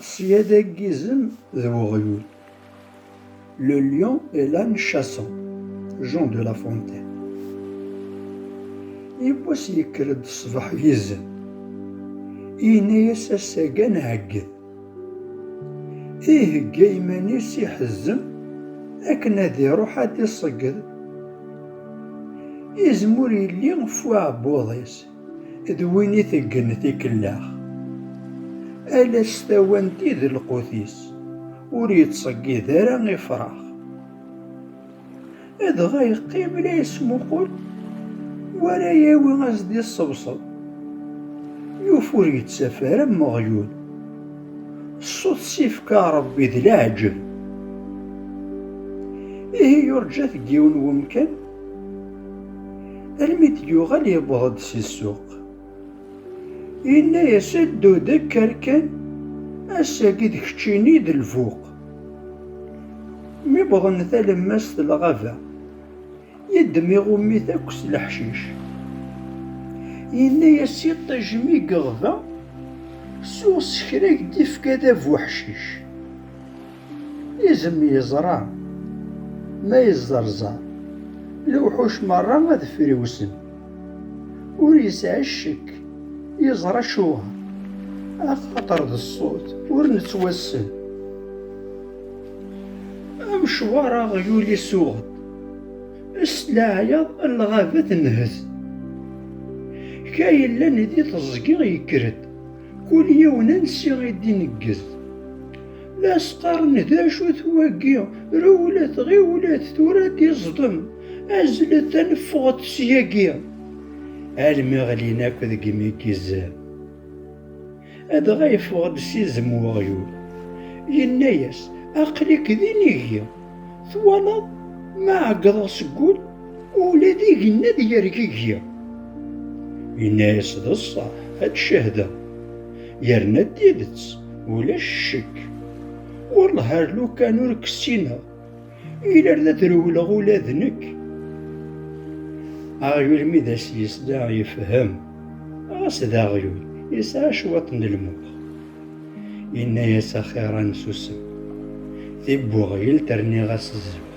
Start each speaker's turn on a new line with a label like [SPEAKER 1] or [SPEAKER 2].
[SPEAKER 1] Sya d aggizem d weɣyul. Le lion et l'âne chassant, Jean de La Fontaine. Yiwwas yekker-d ṣṣbeḥ yizen, yenna-yas ass-agi ad nɛegget. Ihegga iman-is iḥezzem akken ad iruḥ ad d-iṣegged. Izem ur yelli f uɛebbuḍ-is. d win i teggen tikellax. Ala s tawant i d lqut-is, ur yettṣeggid ara ifrax. Dɣa yeqqim la yesmuqul wara yawi as d iṣebṣeb. Yuf ur yettaf ara am uɣyul. Ṣṣut s ifka Rebbi d leɛǧeb. Ihi yurǧa-t deg yiwen wemkan. Almi d-yuɣal yewweḍ-d si ssuq. Yenna-yas a Dudek arkan ass-agi d keččini d lbuq. Mi wwḍen talemmast lɣaba, yeddem iɣumit akk s leḥcic. Yenna-yas iṭij mi yeɣba, suɣ s kra k-d-ifka d abuḥcic. Izem yeẓra, ma yezzeṛzeṛ, lewḥuc meṛṛa ad friwsen. Ur yesɛi ccekk, yeẓra acuɣer, axaṭer d ṣṣut ur nettwassen. Amecwar aɣyul isuɣen, s leɛyaḍ n lɣaba tenhet. Ka yellan di teẓgi yekker-d, kul yiwen ansi i d-ineggez. La sqaren d acu-t wagi, rewlet, ɣiwlet, tura d-iẓdem, azlet ad neffɣet syagi. Almi ɣlin akk deg imigizen. Adɣa yeffeɣ-d s izem weɣyul, yenna-yas, Aql-ik d inigi. Twalaḍ, ma ɛeggḍeɣ seg wul, ula d igenni ad yergigi. Yenna-as, D ṣṣeḥ, ad cehdeɣ. Yerna d tidet, ulac ccekk. Wellah ar lukan ur k-ssineɣ, iler d ad rewleɣ ula d nekk. Aɣyul mi d as-yesla, yefhem. Ɣas d aɣyul, yesɛa cwiṭ n lmux. Yenna-yas axir ad nsusem. Tibuɣyelt rniɣ-as zzux.